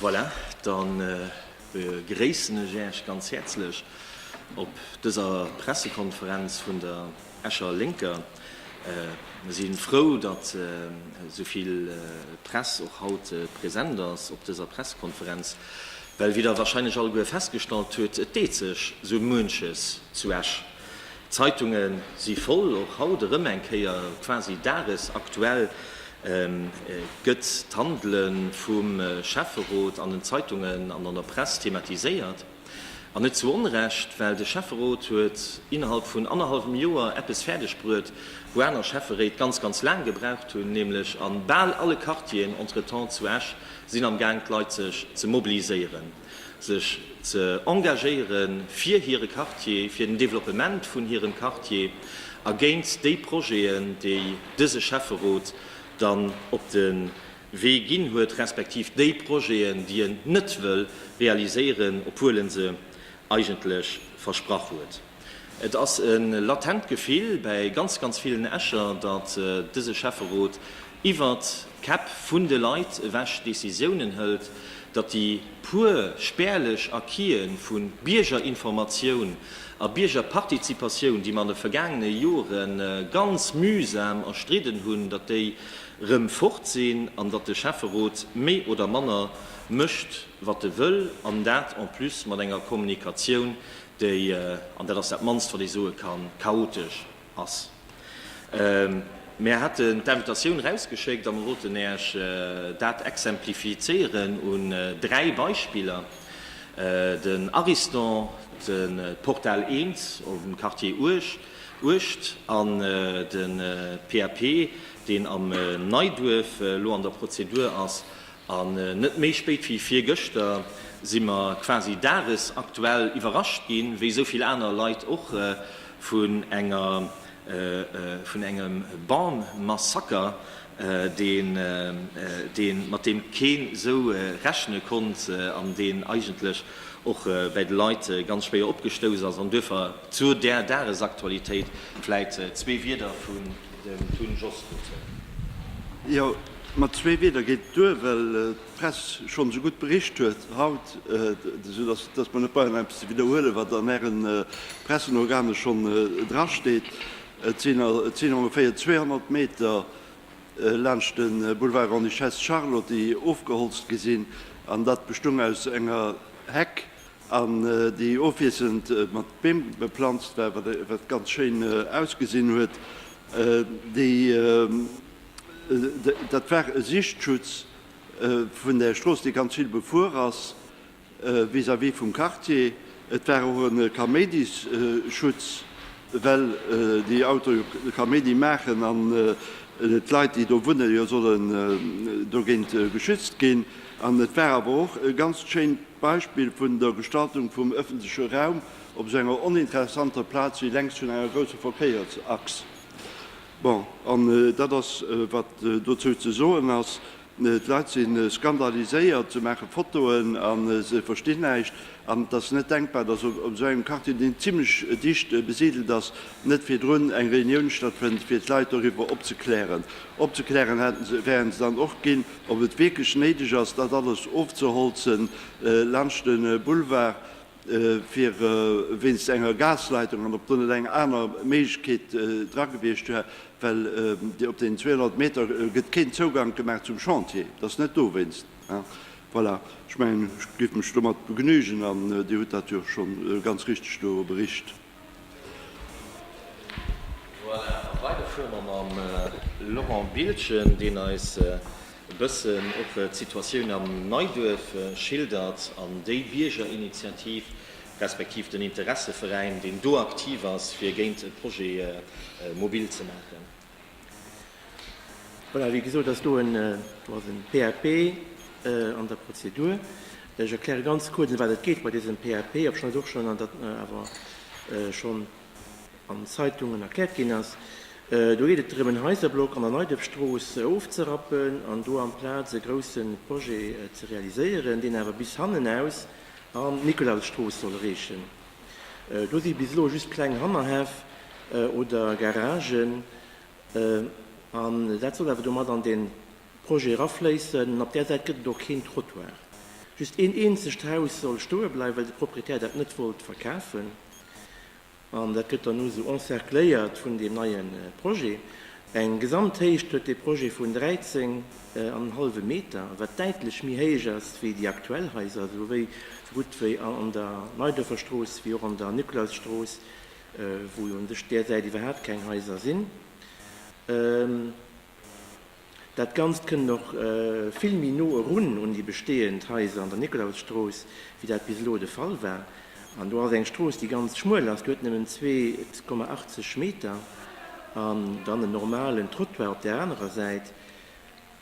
Voilà, da begréissen ech Äech ganz häerzlech op dëser Pressekonferenz vun der Escher Lénker. Mer si frou, datt esou vill Press och haut present ass op dëser Pressekonferenz, well, wéi Der wahrscheinlech alleguer festgestallt hutt, et deet sech esou muenches zu Esch. D'Zeitunge si voll, och haut erëm eng Kéier quasi dagesaktuell gëtt d'Handele vum Schäfferot an den Zeitungen an an der Press thematiséiert. An net zu Onrecht, well de Schäfferot huet innerhalb vun annerhallwem Joer eppes fäerdeg bruet, wou aner Schäfferéit ganz, ganz laang gebraucht hunn, nämlech a bal alle Quartieren entretemps zu Esch sinn amgaang d'Leit sech ze mobiliséieren. sech ze engagéiere fir hire Quartier, fir den Développement vun hirem Quartier a géint déi Projeten, déi dëse Schäfferot dann op de Wee ginn huet, respektiv déi Projeten, déi en net wëll realiséieren, obwuel e se eigentlech versprach huet. Et ass e latent Gefill bäi ganz, ganz villen Escher, datt dëse Schäfferot iwwert d'Käpp vun de Leit ewech Decisiounen hëlt, datt déi puer spärlech Acquis'e vu Biergerinformatioun a Biergerpartizipatioun, déi mer an de vergaangene Jore ganz mühsam erstridden hunn, datt déi rëm fort sinn an datt de Schäfferot méi oder manner mécht, wat e wëll, an dat en plus mat enger Kommunikatioun, déi, an dat ass dat mannst wat ee soe kann, chaotesch ass. Mär haten d'Invitatioun erausgeschéckt a mer wollten Äech dat exemplifizéieren un dräi Beispiller, den Ariston, de Portal Eems am Quartier Uecht an de PAP, deen am Neiduerf elo an der Prozedur ass, An net méi spéit wéi virgëschter si mer quasi dagesaktuell iwwerrascht ginn, wéi esou vill aner Leit och, vun enger, vun engem Bam-Massaker, deen, deen, mat deem keen esou rechne konnt an deen eigentlech och bäi de Leit ganz schwéier opgestouss ass. An duerfir zu där Dagesaktualitéit vläit zwee Wieder vun dem Tun Jos Rutte. Mat zwee Wieder geet et duer, well d'Press schonn esou gutt bericht huet haut, esou datt datt mer net brauchen eppes ze widderhuelen, wat an Äre Pressenorgane schonn drasteet. Et sinn et sinn ongeféier 200 Meter laanscht de Boulevard Grande-Duchesse Charlotte, déi ofgeholzt gi sinn, an dat bestung aus enger Heck, an déi ofwiesselnd mat Beem beplanzt war, wat wat ganz schéin ausgesinn huet. Déi Dat war e Sichtschutz vun der Strooss, déi ganz vill befuer ass vis-à-vis vum Quartier. Et war och e Kaméidisschutz, well déi Autoe jo Kaméidi maachen an d'Leit, déi do wunnen, jo sollen dogéint geschützt ginn. An et war awer och e ganzt schéint Beispill vun der Gestaltung vum ëffentleche Raum op esou enger oninteressanter Plaz wéi lenks vun enger grousse Verkéiersachs. Bon, an dat ass, wat dozou ze soen ass. D'Leit si skandaliséiert, se maache Fotoen a se verstinn näischt. An et ass net denkbar, dass op esou engem Quartier, deen zimlech dicht besidelt ass, net virdrun eng Reunioun stattfënnt, fir d'Leit doriwwer opzeklären. Opzeklären hätte se, wären se dann och ginn, ob et wierklech néideg ass, dat alles ofzeholzen laanscht de Boulevard. fir wéinst enger Gasleitung an ob do net eng aner Méiglechkeet dra gewiescht wär, well op deenen 200 Meter gëtt keen Zougank gemaach zum Chantier, et ass net dowéinst. Voilà, ech mengen, ech géif mech domat begnügen an Dir hutt dat jo scho ganz richteg do bericht. Voilà, a weider fuere mer mam Laurent Biltgen, deen eis e bëssen och d'Situatioun am Neiduerf schildert an déi Biergerinitiativ, respektiv den Interesseveräin, deen do aktiv ass, fir géint e Projet mobil ze maachen. Voilà, wéi gesot ass do en, do ass en PAP an der Prozedur. Ech erkläre ganz kuerz, ëm wat et geet bei dësem PAP, obschon et och schonn an der, awer schonn an den Zeitungen erkläert ginn ass. Do geet et drëm, en Haiserblock an der Neiduerfstrooss ofzerappen an do amplaz e grousse Projet ze realiséieren, deen awer bis hannen aus an d'Nikolausstrooss soll reechen. Do si bis elo just kleng Hannerhäff oder Garagen. An dat soll awer domat an den Projet erafléissen. Op där Säit gëtt et och keen Trottoir. Just een eenzegt Haus soll stoe bleiwen, well de Proprietär dat net wollt verkafen. An dat gëtt dann elo esou encercléiert vun deem neie Projet. Eng Gesamthéicht huet dee Projet vun 13 an en hallwe Meter, wat däitlech méi héich ass wéi déi aktuell Haiser, sou wéi sou gutt wéi an der Neiduerferstrooss wéi och an der Nikolausstrooss, wou jo un sech där Säit iwwerhaapt keng Haiser sinn. Dat Ganzt kënnt och vill méi no erun un déi bestehend Haiser an der Nikolausstrooss, wéi dat bis elo de Fall war. An do ass eng Strooss, déi ganz schmuel ass, déi huet nëmmen zwee Komma 80 Meter an dann en normalen Trottoir op där anerer Säit.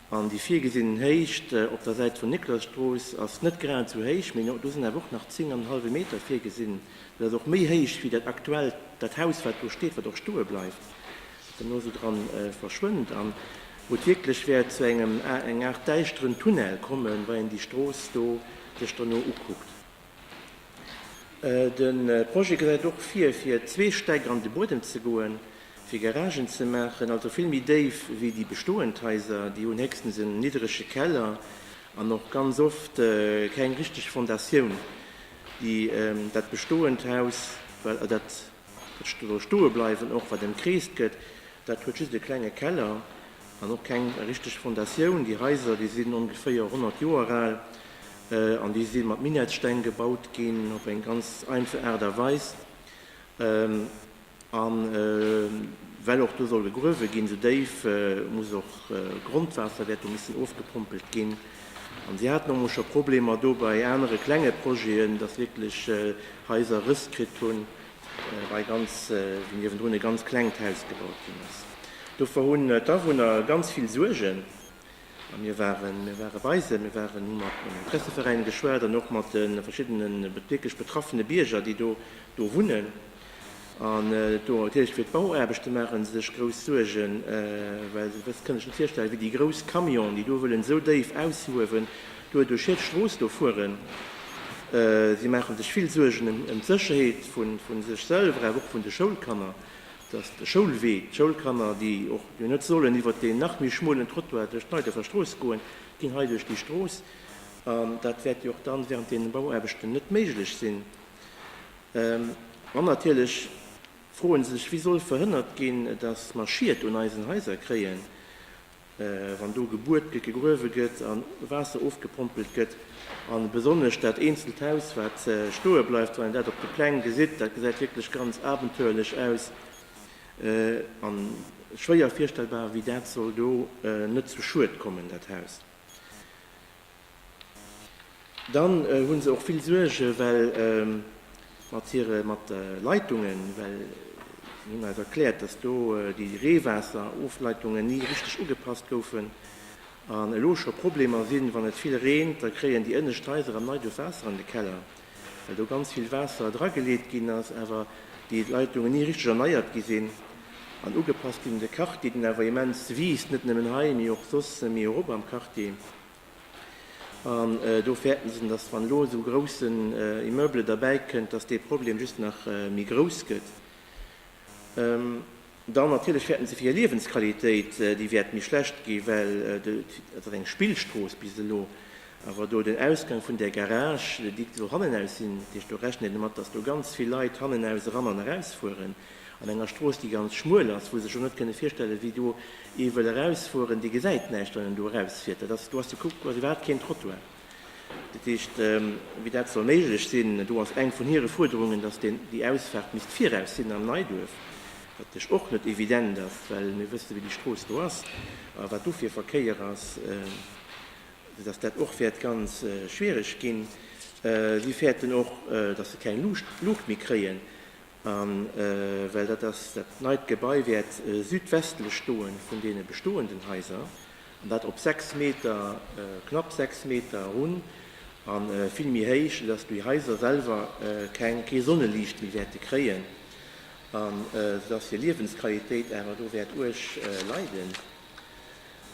An déi virgesinn Héicht op der Säit vun Niklosstrooss ass net grad esou héich, mee do sinn awer och nach zéng an en hallwe Meter virgesinn. Dat ass och méi héich wéi dat aktuellt, dat Haus, wat do steet, wat och stoe bleift, wat dann elo esou dra verschwënnt an wou et wierklech wäert zu engem, enger Aart däischteren Tunnel kommen, wa een déi Strooss do sech dono ukuckt. De Projet gesäit och vir, fir zwee Stäck an de Buedem ze goen, fir Garagen ze maachen, also vill méi déif wéi déi bestoend Haiser. Déi hunn héchstens en nidderege Keller an och ganz oft keng richteg Fondatioun, déi dat bestoend Haus, well dat Ech elo stoe bleiwen, och wat emkreest gëtt, dat huet just e klenge Keller an och keng richteg Fondatioun. Déi Haiser, déi sinn ongeféier 100 Joer al an déi si mat Minettssteng gebaut ginn, op eng ganz einfach Aart a Weis. A well och do soll gegruewe ginn, esou déif, muss och Grondwaasser wäert do missen ofgepompelt ginn. An si haten och mol scho Problemer do bei anere klenge Projeten, dass wierklech Haiser Rëss kritt hunn, wei ganz niewendrun e ganz klengt Haus gebaut ginn ass. Dovor hunn d'Awunner ganz vill Suergen. A mir waren, mir ware bei se, mir waren, hu mat den Interesseveräine geschwat an och mat de verschiddene wierklech betraffene Bierger, déi do wunnen. An do huet hie fir d'Bauaarbechte maache se sech grouss Suergen, well se wëss, kënnt ech net virstellen, wéi déi grouss Camionen, déi do wëllen esou déif aushuewen, duerduerch hir d'Strooss do fueren. Si maache sech vill Suergen ëm d'Sécherheet vu sech selwer, awer och vun de Schoulkanner, dass de Schoulwee, d'Schoulkanner, déi och jo net sollen iwwert deen nach méi schmuelen Trottoir duerch d'Neiderfer Strooss goen, ginn hei duerch déi Strooss. An dat wäert jo och dann während deenen Bauaarbechten net méiglech sinn. An natierlech froen se sech, wéi soll verhënnert ginn, dass mer Schied un eisen Haiser kréien, wann do gebuert gëtt, gegruewe gëtt a Waasser ofgepompelt gëtt. A besonnesch dat eenzelt Haus, wat stoe bleift, wann een dat op de Pläng gesitt, dat gesäit wierklech ganz abenteuerlech aus a schwéier virstellbar, wéi dat soll do net zu Schued kommen, dat Haus. Dann hunn se och vill Suergen, well mat hire, mat de Leitungen, well mir hunn eis erkläert, dass do déi Reewaasserofleitungen ni richteg ugepasst goufen an elo scho Problemer sinn, wann et vill reent, da kréien déi ënnescht Haiser am Neiduerf Waasser an de Keller, well do ganz vill Waasser drageleet ginn ass, awer déi Leitungen ni richteg erneiert gi sinn an ugepasst ginn un de Quartier, deen awer immens wiisst, net nëmmen hei, mee och soss méi erop am Quartier. An do fäerten se, dass wann elo esou groussen Immeuble derbäi kënnt, dass dee Problem just nach méi grouss gëtt. Dann natierlech fäerten se fir hir Liewensqualitéit, déi wäert méi schlecht gi well dat ass eng Spillstrooss bis elo. Awer do den Ausgang vun där Garage, déi soll hannenaus sinn, dat heescht do rechnen déi domat, dass do ganz vill Leit hannenaus eran an erausfueren. An enger Strooss, déi ganz schmuel ass, wou se sech och net kënne virstellen, wéi do ee wëll erausfueren, dee gesäit näischt, wann en do erausfiert. Dat ass, do ass de Kuck, do ass iwwerhaapt keen Trottoir. Dat heescht, wéi dat soll méiglech sinn, do ass eng vun hire Fuerderungen, dass deen, déi Ausfaart misst viraus sinn am Neiduerf, wat natierlech och net evident ass, well mir wësse wéi déi Strooss do ass a wat do fir Verkéier ass, soudass dat och wäert ganz schwierig ginn. Si fäerten och, dass se keng Luucht, Luucht méi kréien A well dat ass, dat neit Gebai wäert südwestlech stoe vun deene bestoenden Haiser, an dat op sechs Meter, knapp sechs Meter erun a vill méi héich, soudatt déi Haiser selwer keng, kee Sonneliicht méi wäerte kréien a soudatt hir Liewensqualitéit awer do wäert uerg leiden.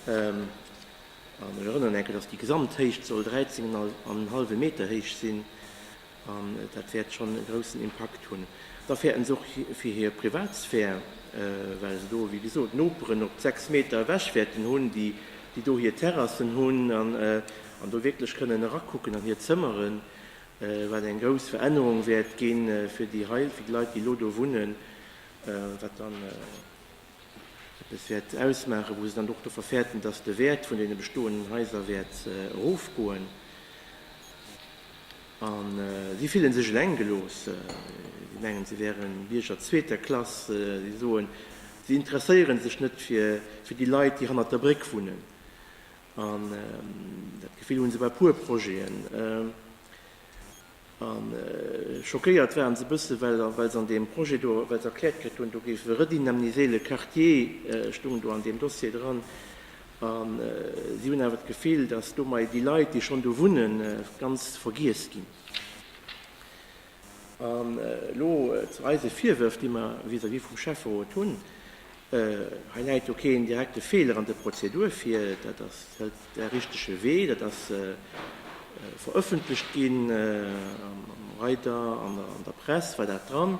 An ech erënneren enk, dass déi Gesamthéicht soll 13 an en hallwe Meter héich sinn. An dat wäert schonn e groussen Impakt hunn. Da fäerten se och fir hir Privatsphär, well se do, wéi gesot, Noperen op 6 Meter ewech wäerten hunn, déi do hir Terrassen hunn an do wierklech kënnen erakucken an hir Zëmmeren, wat eng grouss Verännerung wäert gi fir déi Leit, déi elo do wunnen, wat dann. eppes wäert ausmaachen, wou se dann och dovor fäerten, dass de Wäert vun deene bestoenden Haiser wäert erofgoen. A si fille sech eleng gelooss. Si mengen, si wären Bierger zweeter Klass. Si soen, si interesséiere sech net fir déi Leit, déi hannert der Bréck wunnen. An dat Gefill hu se bei e puer Projeten. A schockéiert waren se e bësse, well se an deem Projet do, well se erkläert kritt hunn, do géif e redynamniséle Quartier stoung do an deem Dossier dran. A si hunn awer d'Gefill, datt domat déi Leit, déi schonn do wunnen, ganz vergiess ginn. An elo zu eise Virwërf, déi mer vis-à-vis vum Schäfferot hunn, Hei läit jo keen direkte Feeler an der Prozedur vir. Dat ass de richtege Wee. Dat ass verëffentlecht ginn am Reiter an der Press war dat dran.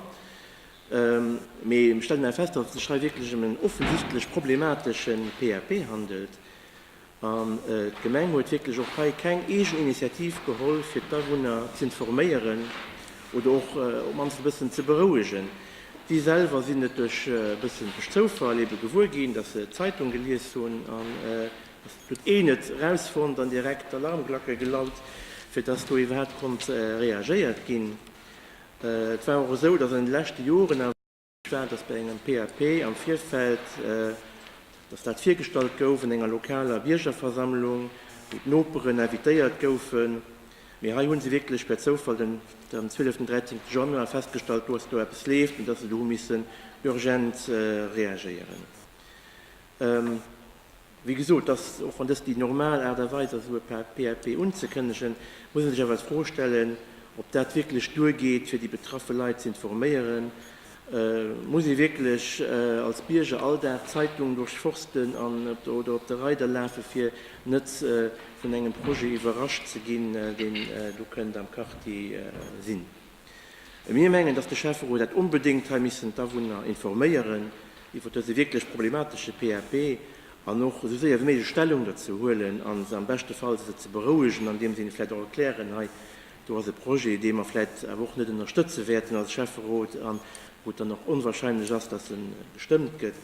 Mee ech stellen awer fest, datt et sech hei wierklech ëm en offensichtlech problemateschen PAP handelt. An d'Gemeng huet wierklech och hei keng eegen Initiativ geholl, fir d'Awunner z'informéieren oder och op d'mannst e bëssen ze berouegen. Si selwer sinn et duerch e bëssen duerch Zoufall ebe gewuer ginn, datt se d'Zeitung gelies hunn an datt et huet een et erausfonnt an direkt d'Alarmglacke gelaut, fir datt do iwwerhaapt konnt reagéiert ginn. Et war och esou, datt an de leschte Joren awer. Staat, dass bei engem PAP am Virfeld, dass dat virgestallt gouf an enger lokaler Biergerversammlung, wou d'Noperen invitéiert goufen, mee hei hu se wierklech per Zoufall den am zwieleften, dräizéngte Januar festgestallt, do ass do eppes leeft an dass se do hu missen urgent reagéieren. Wéi gesot, dass, och wann dëst déi normal Aart a Weis ass, esou e PAP unzekënnegen, muss ee sech awer d'Fro stellen, ob dat wierklech duergeet, fir déi betraffe Leit ze informéieren. Muss ee wierklech als Bierger all Dag d'Zeitung duerchforsten oder op de Reider lafe fir net vun engem Projet iwwerrascht ze ginn, deen do kënnt am Quartier sinn? Mir mengen, dass de Schäfferot hätt onbedéngt hei missen d'Awunner informéieren iwwer dëse wierklech problematesche PAP an och esou séier wéi méiglech Stellung dozou huelen a se am beschte Fall se ze berouegen, andeem se hinne vläicht och erklären, hei do ass e Projet, dee mer vläicht awer och net ënnerstëtze wäerten als Schäfferot a wou et dann och onwahrscheinlech ass, dass e gestëmmt gëtt.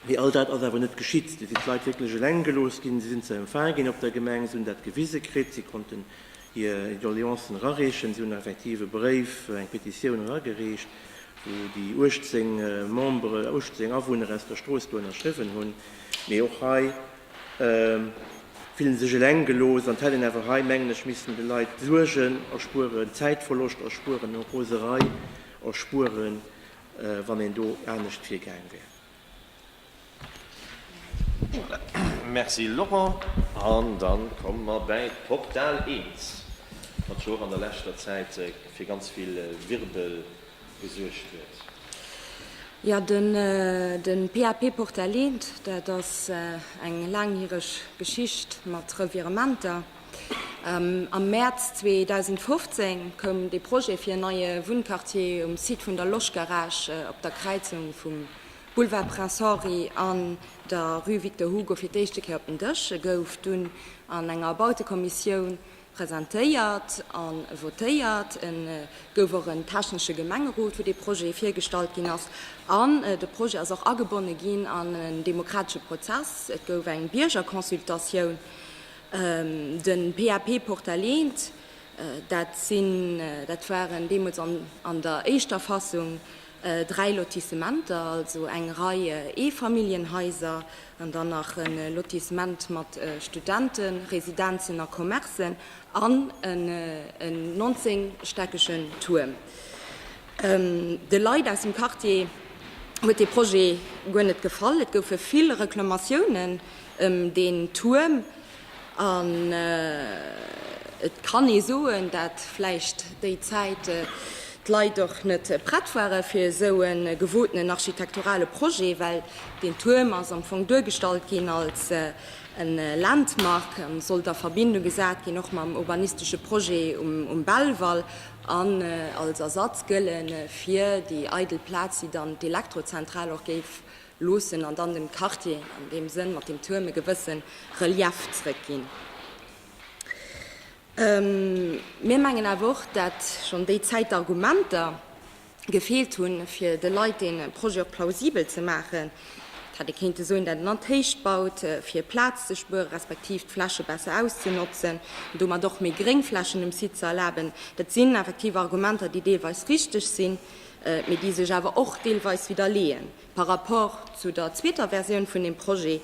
Mee all dat ass awer net geschitt. Do sinn d'Leit wierklech eleng gelooss ginn. Si sinn ze empfaange ginn op der Gemeng, si hunn dat gewise kritt, si konnten hir Doleancen erareechen, si hunn effektiv e Bréif, eng Petitioun eragereecht, wou déi 18 Membere, 18 Awunner aus der Strooss do ënnerschriwwen hunn. Mee och hei fillen se sech eleng gelooss an d'hätten awer hei, mengen ech, missten de Leit Suergen erspueren, Zäitverloscht erspueren, Roserei erspueren. wann een do anescht virgaang wär. Merci Laurent. An da komme mer bäi d'Portal 1, wat jo och an der leschter Zäit fir ganz vill Wirbel gesuergt huet. Jo, de PAP Portal 1, dat ass eng laangjäreg Geschicht mat Revirementer. Am Mäerz 2015 koum de Projet fir en neie Wunnquartier um Site vun der Loschgarage op der Kräizung vum Boulevard Prince Henri an der Rue Victor Hugo fir d'éischte Kéier op den Dësch. E gouf dunn an enger Bautekommissioun presentéiert a votéiert. E gouf och en technesche Gemengerot, wou dee Projet virgestallt ginn ass. An de Projet ass och agebonne ginn an en demokratesche Prozess, Et gouf eng Biergerconsultatioun Den PAP Portalint, dat sinn, dat waren deemools an der éischter Fassung dräi Lotissementer, also eng Rei Eefamilljenhaiser an dann nach e Lotissement mat Studentenresidenzen a Commercen an en 19 stäckegen Tuerm. De Leit aus dem Quartier huet dee Projet guer net gefall, et goufe vill Reklamatiounen, ëm deen Tuerm an et kann ee soen, dat vläicht déi Zäit d'Leit och net prett ware fir esou e gewotenen architekturale Projet, well deen Tuerm ass am Fong duergestallt ginn als e Landmark a sollt a Verbindung gesat ginn och mam urbanistesche Projet um Belval an als Ersatz gëlle fir déi eidel Plaz, déi dann d'Elektrozentral och géif Loossen an dann dem Quartier an deem Sënn mat dem Tuerm e gewësse Relief zrëckginn. Mir mengen awer och, dat schonn déi Zäit d'Argumenter gefeelt hunn, fir de Leit dee Projet och plausibel ze maachen. Et hätt ee kéinte soen, dat een an d'Héicht baut, fir Plaz ze spueren, respektiv d'Fläche besser auszenotzen an domat och méi Gréngflächen um Site ze erlaben. Dat sinn effektiv Argumenter, déi deelweis richteg sinn. mee déi sech awer och deelweis widderleeën par rapport zu der zweeter Versioun vun deem Projet,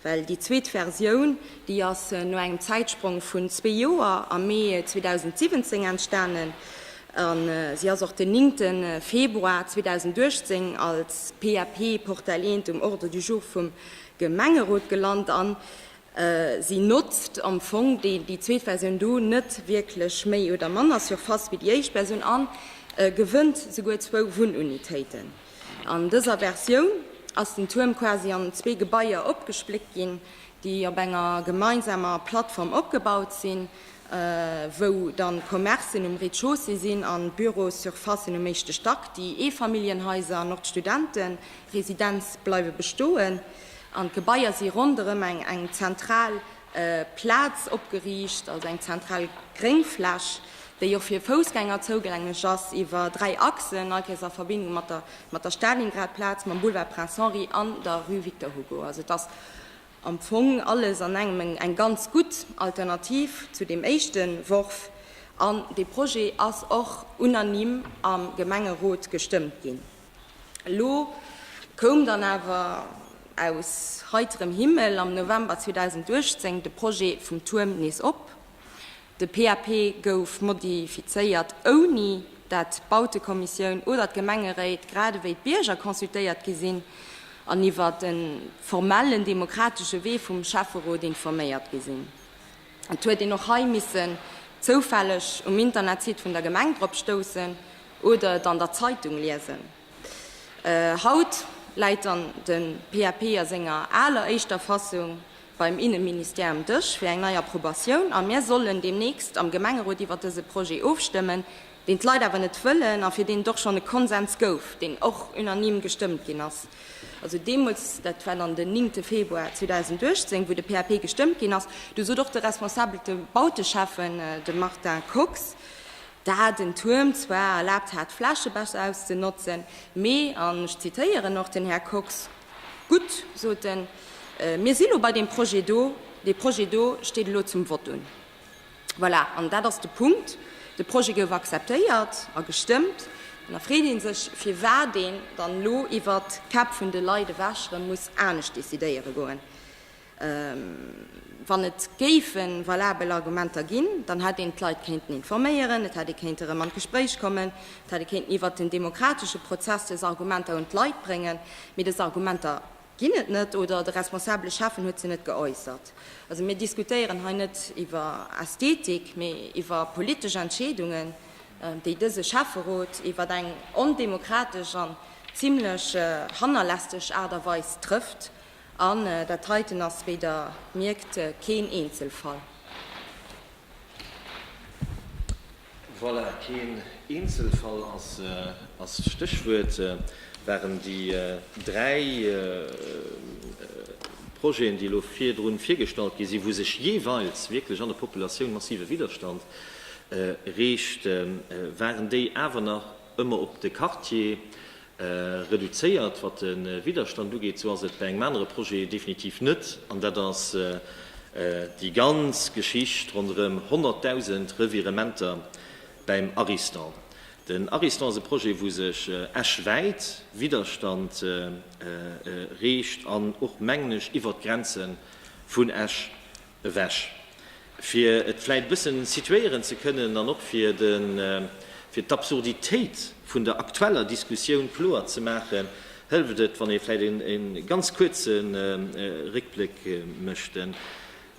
well déi zweet Versioun, déi ass no engem Zäitsprong vun zwee Joer am Mee 2017 entstanen a si ass och den néngte Februar 2018 als PAP, Portal 1, um Ordre du jour vum Gemengerot gelant an Si notzt am Fong déi zweet Versioun do net wierklech méi oder manner Surface wéi déi éischt Versioun a gewënnt souguer zwou Wunnunitéiten. An dëser Versioun ass den Tuerm quasi an zwee Gebaier opgespléckt ginn, déi op enger gemeinsamer Plattform opgebaut sinn, wou dann d'Commercen um Rez-de-chaussée sinn an d'Büros-surfacen um éischte Stack. Déi Eefamilljenhaiser an och d'Studentenresidenz bleiwe bestoen. An d'Gebaier si ronderëm eng eng zentral Plaz opgeriicht, also eng zentral Gréngfläch, déi och fir Foussgänger zougänglech ass iwwer dräi Achsen, Neikirch a Verbindung mat der mat der Stalingrad-Plaz, mam Boulevard Prince Henri an der Rue Victor Hugo. Also et ass am Fong alles an engem eng eng ganz gutt Alternativ zu deem éischte Worf. An dee Projet ass och unanime am Gemengerot gestëmmt ginn. Elo koum dann awer aus heiterem Himmel am November 2018 de Projet vum Tuerm nees op. De PAP gouf modifizéiert, ouni dat d'Bautekommissioun oder d'Gemengeréit, grad ewéi d'Bierger consultéiert gi sinn an iwwer de formellen demokratesche Wee vum Schäfferot informéiert gi sinn. Et huet een och hei missen zoufälleg um Internetsite vun der Gemeng drop stoussen oder et an der Zeitung liesen. Haut läit dann de PAP a senger aler éischter Fassung beim Inneministère um Dësch fir eng nei Approbatioun a mir sollen deemnächst am Gemengerot iwwer dëse Projet ofstëmmen, deen d'Leit awer net wëllen a fir deen et och schonn e Konsens gouf, deen och unanime gestëmmt ginn ass, also deemools, dat war dann den 9 Februar 2018, wou de PAP gestëmmt ginn ass, do sot och de responsabelte Bauteschäffen, de Martin Kox, dat en Tuerm zwar erlaabt hat, Fläche besser auszenotzen, mee, an ech zitéieren och den Här Kox, Gutt, sot en, mir si lo bei deem Projet do, dee Projet do steet elo zum Vott un. Voilà, an dat ass de Punkt. De Projet gouf akzeptéiert a gestëmmt. An da freet ee sech, firwat een dann elo iwwer d'Käpp vun de Leit ewech erëm muss anescht decidéiere goen. Wann et géife valabel Argumenter ginn, dann hätt een d'Leit kéinten informéieren, et hätt ee kéinte erëm an d'Gespréich kommen, et hätt ee kéinten iwwer den demokratesche Prozess dës Argumenter un d'Leit bréngen. Mee dës Argumenter Ginn et net oder de responsabele Schäffen huet se net geäussert. Also mir diskutéieren hei net iwwer Ästhetik, mee iwwer politesch Entscheedungen, déi dëse Schäfferot iwwer eng ondemokratesch an zimlech hannerlässeg Aart a Weis trëfft. An dat heiten ass, wéi Der mierkt, keen Eenzelfall. Voilà, keen Eenzelfall ass d'Stéchwuert. Waren déi dräi Projeten, déi elo virdrun virgestallt gi sinn, wou sech jeeweils wierklech an der Populatioun massive Widerstand reegt, waren déi awer nach, ëmmer op de Quartier reduzéiert, wat de Widderstand ugeet, esou ass et bei engem anere Projet definitiv net, an dat ass déi ganz Geschicht ronderëm 100.000 Revirementer beim Ariston. Den Ariston ass e Projet, wou sech Esch wäit Widderstand reegt an och, mengen ech, iwwert d'Grenze vun Esch Ewech. Fir et vläit e bëssen situéieren ze kënnen an och fir de, fir d'Absurditéit vun der aktueller Diskussioun kloer ze maachen, hëlleft et, wann ee vläit e ganz kuerze Réckbléck mécht. Den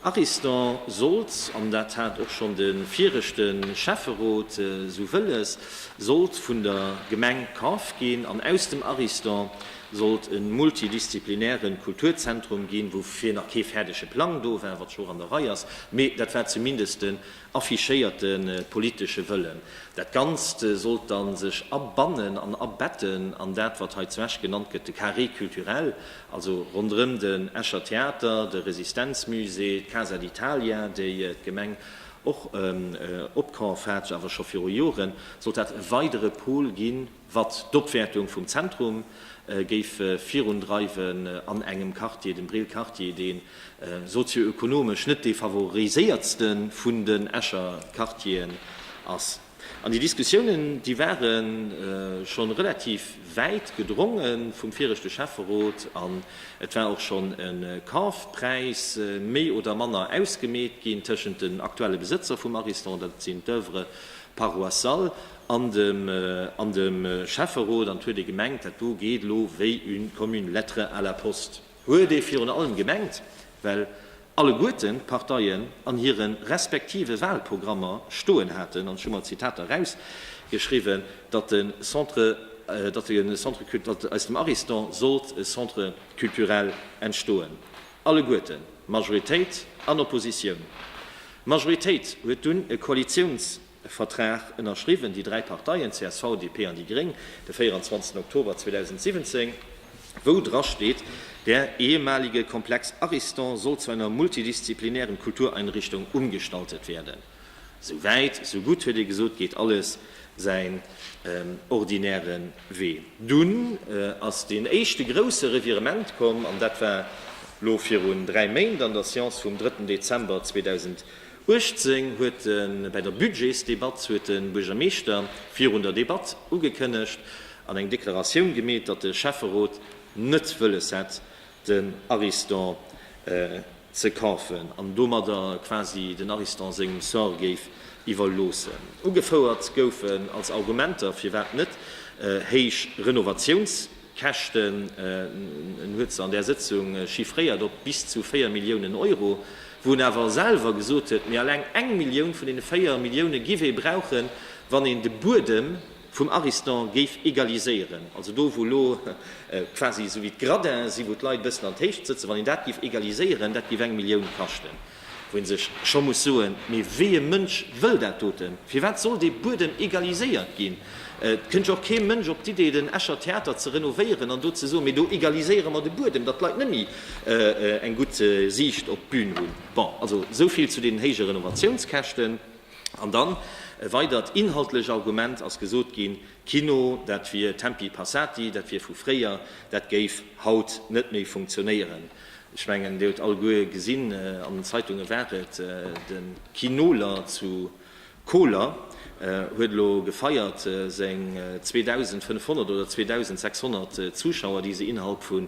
Ariston sollt, an dat hat och schonn de viregte Schäfferot esou wëlles, sollt vun der Gemeng kaf ginn an aus dem Ariston, sollt e multidisziplinären Kulturzentrum ginn, woufir nach kee fäerdege Plang do war, wat scho och an der Rei ass, mee dat war zumindest den affichéierte politesche Wëllen. Dat Ganzt sollt da sech abannen an abetten an dat, wat hei zu Esch genannt gëtt de Carré culturel, also ronderëm den Escher Theater, de Resistenzmusée, d'Casa d'Italia, déi d'Gemeng och opkaf hat, awer scho viru Joren, sollt dat e weidere Pol ginn, Watt d'Opwäertung vum Zentrum géif virundreiwen an engem Quartier, dem Brill Quartier, deen sozio-ökonomesch net dee favoriséiertsten vun den Escher Quartieren ass. An déi Diskussiounen, déi waren schon relativ wäit gedrongen vum viregte Schäfferot an et war och schon en Kaufpräis méi oder manner ausgemeet ginn tëschent den aktuelle Besëtzer vum Ariston, datt sinn d'Oeuvres paroissiales, an dem Schäfferot, an 't huet ee gemengt, dat do geet elo wéi une comme une lettre à la poste, huet ee virun allem gemengt, well alleguerten d'Parteien an hire respektive Wahlprogrammer stoen haten, an ech hu mer d'Zitater erausgeschriwwen, datt e Centre, datt e Centre cul, datt aus dem Ariston sollt e Centre culturel entstoen. Alleguerten, Majoritéit an Oppositioun. D'Majoritéit huet dunn e Koalitiouns. e Vertrag ënnerschriwwen, déi dräi Parteien, csv, DP an déi Gréng, de 24 Oktober 2017, wou dra steet, Der ehemalige Komplex Ariston soll zu einer multidisziplinären Kultureinrichtung umgestaltet werden. Esou wäit, esou gutt, huet ee gesot, geet alles säin ordinäre Wee. Dunn ass deen éischte grouse Revirement komm, an dat war elo virun dräi Méint an der Séance vum drëtten Dezember 2017, 18 huet de bei der Budgetsdebatt huet de Buergermeeschter virun der Debatt ugekënnegt an eng Deklaratioun gemeet, datt de Schäfferot net wëlles hätt, den Ariston ze kafen an domadder quasi den Ariston sengem Sort géif iwwerloossen. Ugefouert goufen als Argumenter, firwat net, héich Renovatiouns. D'Käschten, en huet se an där Sëtzung chiffréiert op bis zu 4 Milliounen Euro, wou en awer selwer gesot huet, mee eleng eng Millioun vun deene 4 Millioune giff ee brauchen, wann een de Buedem vum Ariston géif egaliséieren, also do wou elo quasi esou wéi d'Gradins si, wou d'Leit e bëssen an d'Héicht sëtzen, wann een dat giff egaliséieren, dat giff eng Millioun kaschten. Wou een sech scho muss soen, mee wéi ee Mënsch wëll dat doten? Firwat soll dee Buedem egaliséiert ginn? Et kënnt jo och kee Mënsch op d'Idee den Escher Theater ze renovéieren an do ze soen, mee do egaliséiere mer de Buedem, datt d'Leit net méi eng gutt Siicht op d'Bün hunn. Bon, also esou vill zu deenen héije Renovatiounskäschten. An dann e weidert inhaltlech Argument ass gesot ginn, Kino, dat wier tempi passati, dat wier vu fréier, dat géif haut net méi funktionéieren. Ech mengen, Dir hutt alleguer gesinn, an den Zeitunge war et, de Kinoler zu Koler huet elo gefeiert seng 2.500 oder 2.600 Zuschauer, déi se innerhalb vu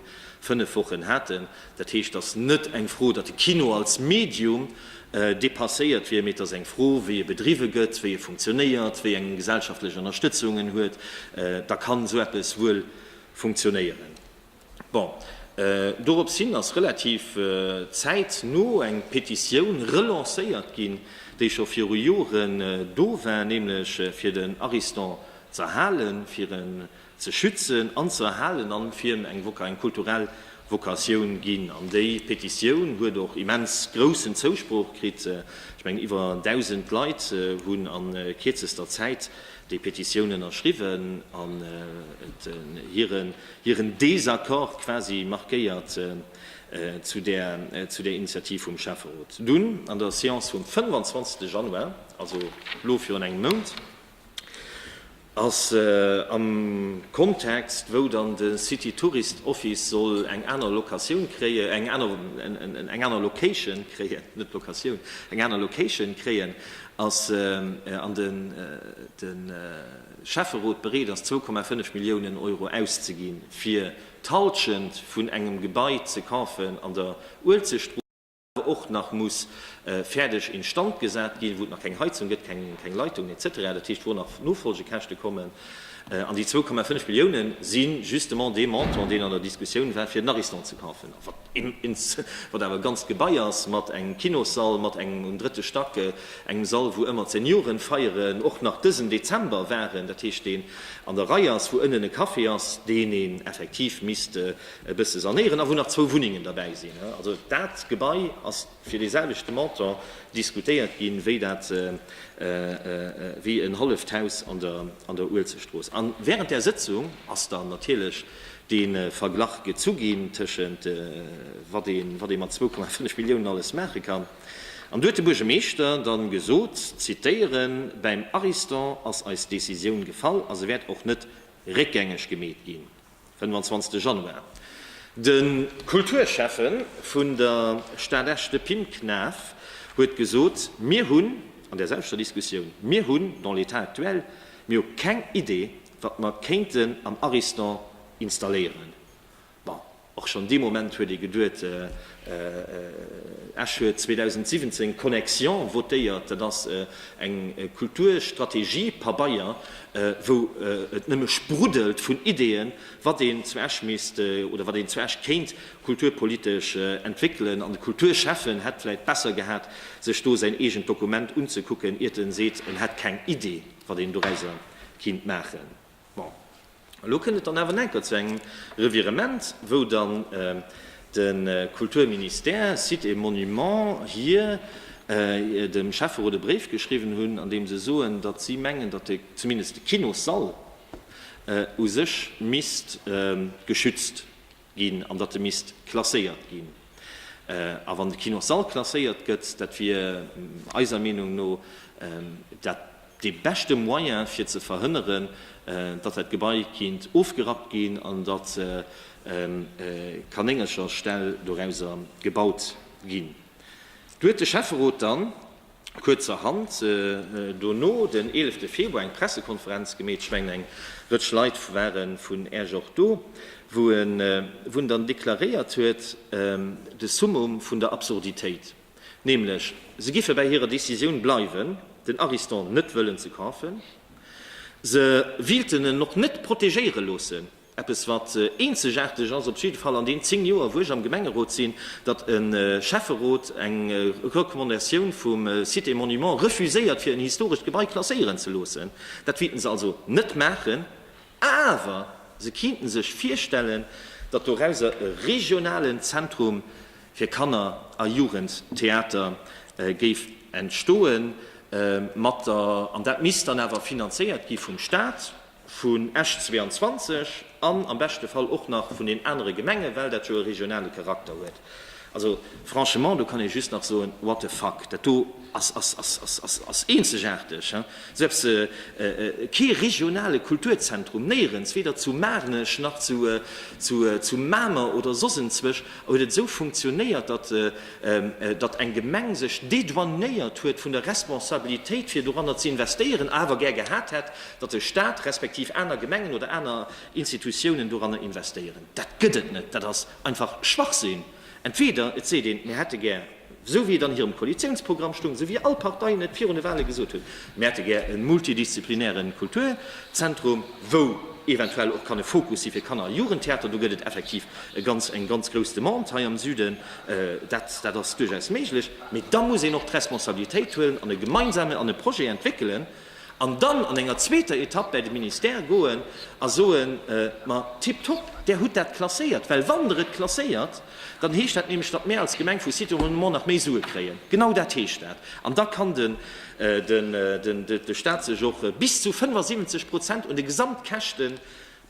fënnef Wochen haten. Dat heescht, et ass net eng Fro, datt de Kino als Medium depasséiert wier, mee et ass eng Fro, wéi e bedriwwe gëtt, wéi e funktionéiert, wéi eng gesellschaftlech Ënnerstëtzung en huet, da kann esou eppes wuel funktionéieren. Bon, dorops hin ass relativ zäitno eng Petitioun relancéiert ginn, déi scho viru Joren do war, nämlech fir den Ariston ze erhalen, fir en ze schützen an ze erhalen an fir em eng kulturell Vocatioun ginn. An déi Petitioun huet och immens groussen Zousproch kritt. Ech mengen iwwer 1.000 Leit hunn a kierzester Zäit déi Petitioun ënnerschriwwen an hiren Désaccord quasi markéiert zu där Initiativ vum Schäfferot. Dunn an der Séance vum 25. Januar, also elo virun engem Mount, ass am Kontext, wou dann de City Tourist Office soll eng aner Locatioun kréien, eng aner Location kréien, net Locatioun, eng aner Location kréien, Ass an de Schäfferot bereet ass, zwou Komma fënnef Milliounen Euro auszeginn, fir d'Hallschent vun engem Gebai ze kafen an der Uelzechtstrooss, awer och nach muss fäerdeg instand gesat ginn, wou et nach keng Heizung gëtt, keng Leitungen, etc. Dat heescht, wou nach Nofolgekäschte kommen. An déi zwou Komma fënnef Milliounen si justement dee Montant, deen an der Diskussioun war, fir den Ariston ze kafen. Ins, wat awer e ganzt Gebai ass, mat engem Kinossall, mat engem um drëtte Stack, engem Sall, wou ëmmer d'Seniorenfeieren och nach dësen Dezember waren, dat heescht, deen an der Rei ass, wou ënnen e Café ass, deen een effektiv misst e bësse sanéieren a wou nach zwou Wunnengen derbäi sinn. Also dat Gebai ass. fir dee selwechte Montant diskutéiert ginn, wéi dat, wéi en halleft Haus an der, an der Uelzechtstrooss. A während där Sëtzung ass dann natierlech dee Verglach gezu ginn tëschent wat ee, wat ee mat zwou Komma fënnef Milliounen alles maache kann. An do huet de Buergermeeschter dann gesot, zitieren, Bäim Ariston ass eis Décisioun gefall a se wäert och net réckgängeg gemeet ginn. 25 Januar, De Kulturschäffe vun der Stad Esch, de Pim Knaff, huet gesot, Mir hunn, an där selwechter Diskussioun, mir hunn dans l'état actuel, mir hu keng Idee, wat mer kéinten am Ariston installéieren. Bon, och schonn dee Moment huet ee geduet, Esch huet 2017 d'Connexion votéiert. Dat ass eng Kulturstrategie-Pabeier, wou et nëmme spruddelt vun Ideeën, wat een zu Esch misst oder wat een zu Esch kéint kulturpolitesch entwéckelen. An de Kulturschäffen hätt vläicht besser gehat, sech do säin eegent Dokument unzekucken, iert en seet, en hätt keng Idee, wat een dorauser kinnt maachen. Bon, elo kënnt et dann awer enker zu engem Revirement, wou dann de Kulturministère, Sites et Monuments, hir dem Schäfferot e Bréif geschriwwen hunn, an deem se soen, datt si mengen, datt de, zumindest de Kinossall u sech misst geschützt ginn an datt e misst klasséiert ginn. A wann de Kinos Sall klasséiert gëtt, dat wier eiser Meenung no dat dee beschte Moyen fir ze verhënneren, datt dat Gebai kinnt ofgerappt ginn an datt Kanéngercher Ställ dorauser gebaut ginn. Do huet de Schäfferot dann kuerzerhand dono, den eelefte Februar, eng Pressekonferenz gemeet. Ech mengen, eng Rëtsch Leit ware vun Äech och do, wou en dann deklaréiert huet, de Summum vun der Absurditéit, nämlech, se giffe bäi hirer Décisioun bleiwen, den Ariston net wëllen ze kafen, se wilten en och net protegéiere loossen. Eppes wat eenzegaarteg ass, op jidde Fall an deenen 10 Joer wou ech am Gemengerot sinn, datt e Schäfferot eng Recommandatioun vum Sites et Monuments refuséiert fir en historescht Gebai klasséieren ze loossen. Dat wéilten se also net maachen, awer se kinnten sech virstellen, datt dorauser e regionalen Zentrum fir Kanner a Jugendtheater géif entstoen, mat der, an dat misst dann awer finanzéiert gi vum Staat, vun Esch 22 an am beschte Fall och nach vun den anere Gemenge well dat jo e regionale Charakter huet. Also franchement, do kann ee just nach soen, what the fuck, dat do ass eenzegaarteg, hein, selbst kee regionale Kulturzentrum, néierens, weder zu Maarnech nach zu Mamer oder soss enzwech, huet et esou funktionéiert, datt datt eng Gemeng sech dédouanéiert huet vun der Responsabilitéit fir doranner ze investéieren, awer gär gehat hätt, datt de Stat respektiv aner Gemengen oder aner Institutiounen doranner investéieren. Dat gëtt et net. Dat ass einfach Schwachsinn. Entweder et seet een, mir hätte gär, esou wéi et an hirem Koalitiounsprogramm stoung, esou wéi all Parteien et virun de Wale gesot hunn, mir hätte gär e multidisziplinäre Kulturzentrum, wou eventuell och kann e Fokus si fir Kanner a Jugendtheater, do gëtt et effektiv eng ganz grouss Demande hei am Süden, Dat ass duerchaus méiglech, mee da muss een och d'Responsabilitéit huelen an e gemeinsame an e Projet entwéckelen an dann an enger zweeter Etapp bäi de Ministère goen a soen, Ma tipptopp, Där hutt dat klasséiert. Well wann Der et klasséiert, dann heescht dat nämlech, datt mär als Gemeng vu Sites Renommés nach méi Sue kréien. Genau dat heescht dat. An da kann de Stat sech och bis zu 75 Prozent un de Gesamtkäschte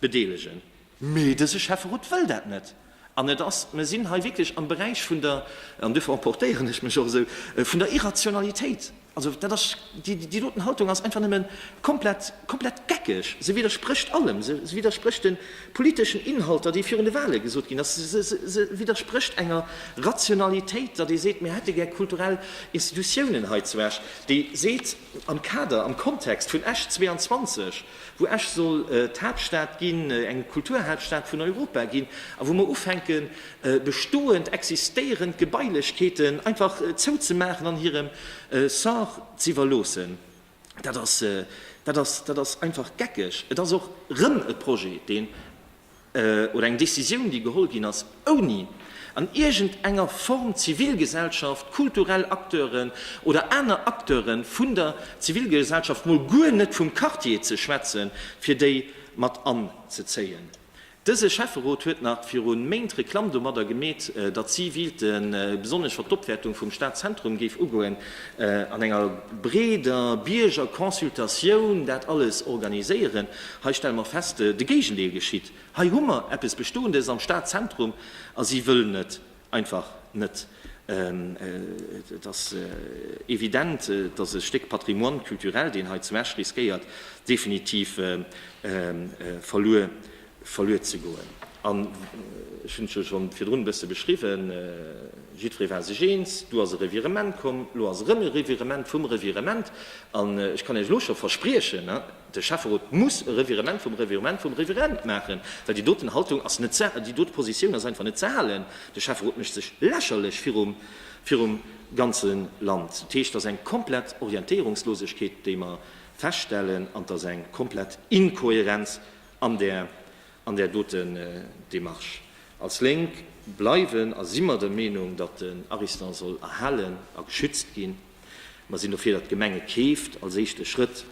bedeelegen. Mee dëse Schäfferot wëll dat net. An et ass, mir sinn hei wierklech am Beräich vun der, an duerfir emportéieren ech mech och esou, vun der Irrationalitéit. Also dat ass, déi doten Haltung ass einfach nëmme komplett, komplett geckeg. Se widdersprécht allem. Se widdersprécht de politeschen Inhalter, déi virun de Wahle gesot ginn ass. Se widdersprécht enger Rationalitéit, datt ee seet, mir hätte gär kulturell Institutiounen hei zu Esch, déi seet, am Kader, am Kontext vun Esch 22, wou Esch soll d'Haaptstad ginn, eng Kulturhaaptstad vun Europa ginn, a wou mer ufänken, bestoend, existéierend Gebailechkeeten einfach zouzemaachen an hirem Sort z'iwwerloossen, dat ass, dat ass, dat ass einfach geckeg. Et ass och erëm e Projet, deen. oder eng Décisioun, déi geholl ginn ass, ouni an iergend enger Form Zivilgesellschaft, kulturell Acteuren oder aner Acteure vun der Zivilgesellschaft, mol guer net vum Quartier ze schwätzen, fir déi mat anzezéien. Dëse Schäfferot huet nach viru Méint Reklamm domadder gemeet, datt si wielte, besonnesch wat d'Opwäertung vum Stadzentrum géif ugoen, an enger breeder Biergerconsultatioun dat alles organiséieren. Hei stelle mer fest, de Géigendeel geschitt. Hei hu mer eppes Bestoendes am Stadzentrum a si wëllen et einfach net. Et ass evident, dass e Stéck Patrimoine culturel, deen hei zu Esch riskéiert definitiv verluer ze goen. An ech hunn et jo scho virdrun e bësse beschriwwen, jiddweree war sech eens, du ass e Revirement komm, elo ass erëm e Revirement vum Revirement. An ech kann Iech elo scho verspriechen, De Schäfferot muss e Revirement vum Revirement vum Revirement maachen, well déi doten Haltung ass net ze, déi dote Positioun ass einfach net ze halen. De Schäfferot mécht sech lächerlech virum, virum ganze Land. Dat heescht, et ass eng komplett Orientéierungslosegkeet, déi mer feststellen, an et ass eng komplett Inkohärenz an där, an där dote Démarche. Als Lénk bleiwen a si mer der Meenung, datt den Ariston soll erhalen a geschützt ginn. Mer sinn dofir, datt d'Gemeng et keeft, als éischte Schrëtt.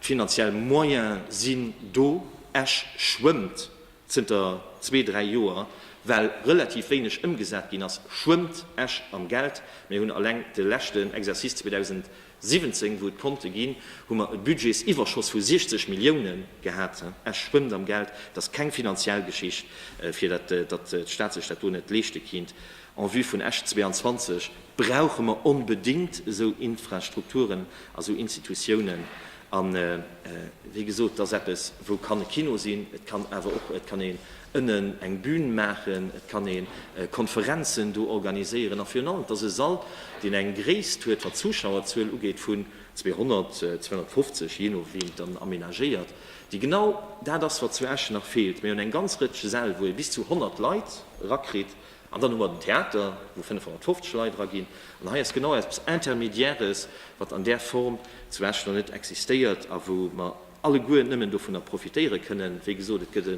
D'finanziell Moyene sinn do. Esch schwëmmt zënter zwee, dräi Joer, well relativ wéineg ëmgesat ginn ass, schwëmmt Esch am Geld. Mir hunn alleng de leschten Exercice 2017, wou et Konte ginn, hu mer e Budgetsiwwerschoss vu 60 Millioune gehat. Esch schwëmmt am Geld. Et ass keng finanziell Geschicht, fir datt d'Stad sech dat do net leeschte kinnt. En vue vun Esch 22 brauche mer onbedéngt esou Infrastrukturen a sou Institutiounen. A wéi gesot, et ass eppes, wou kann e Kino sinn, et kann awer och, et kann een ënnen eng Bün maachen, et kann ee Konferenzen do organiséieren. A virun allem, et ass e Sall, deen eng Gréisst huet, wat d'Zuschauerzuel ugeet, vun 200, 250, jee no wéi een et dann amenagéiert, déi genau dat ass, wat zu Esch nach feelt. Mir hunn eng ganz Rëtsch Säll, wou ee bis zu 100 Leit erakritt. An dann hu mer den Theater, wou 550 Leit eraginn. An hei ass genau eppes Intermédiaires, wat an där Form zu Esch nach net existéiert a wou mer alleguer nëmmen dovunner profitéiere kënnen. Wéi gesot, et gëtt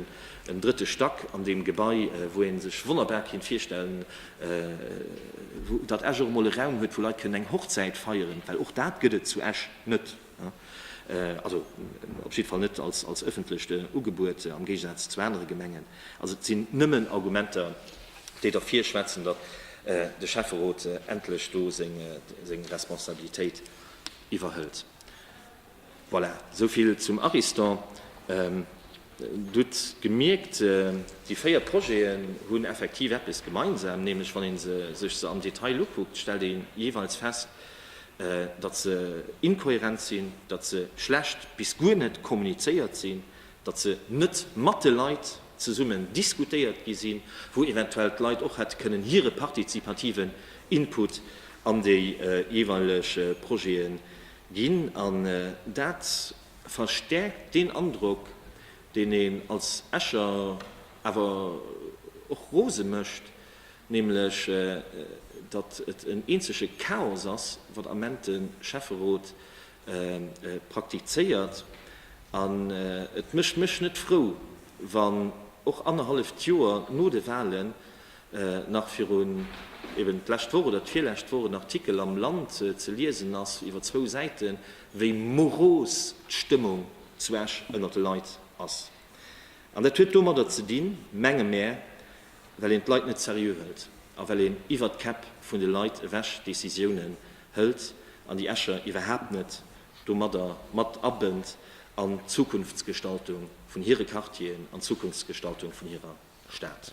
en drëtte Stack an deem Gebai, wou ee sech wonnerbar kéint virstellen, datt Esch och emol e Raum huet, wou Leit kënnen eng Hochzäit feieren, well och dat gëtt et zu Esch net. Also op jidde Fall net als ëffentlecht Ugebuet, am Géigesaz zu anere Gemengen. Also et sinn nëmmen Argumenter, déi derfir schwätzen, datt de Schäfferot endlech do seng Responsabilitéit iwwerhëlt. Voilà, esou vill zum Ariston. Dir hutt gemierkt, déi véier Projeten hunn effektiv eppes gemeinsam, nämlech wann ee sech se am Detail ukuckt, stellt ee jeeweils fest, datt se inkohärent sinn, datt se schlecht bis guer net kommunizéiert sinn, datt se net mat de Leit zesummen diskutéiert gi sinn, wou eventuell d'Leit och hätte kënnen hire partizipativen Input an déi jeeweileg Projete ginn. An dat verstärkt deen Androck, deen een als Escher awer och rose mécht, nämlech datt et en eenzege Chaos ass, wat am Ment de Schäfferot praktizéiert. An et mécht mech net frou, wann och annerhalleft Joer no de Wahlen nach virun eben d'lescht Woch oder d'virlescht Woch en Artikel am Land ze liesen ass, iwwer zwou Säiten, wéi moros d'Stëmmung zu Esch ënnert de Leit ass. An dat huet domadder ze dinn, menge mär, well een d'Leit net seriö hëlt a well een iwwert d'Käpp vun de Leit ewech Decisiounen hëlt an déi Escher iwwerhaapt net domadder mat abënnt an d'Zukunftsgestaltung vun hire Quartieren, an d'Zukunftsgestaltung vun hirer Stad.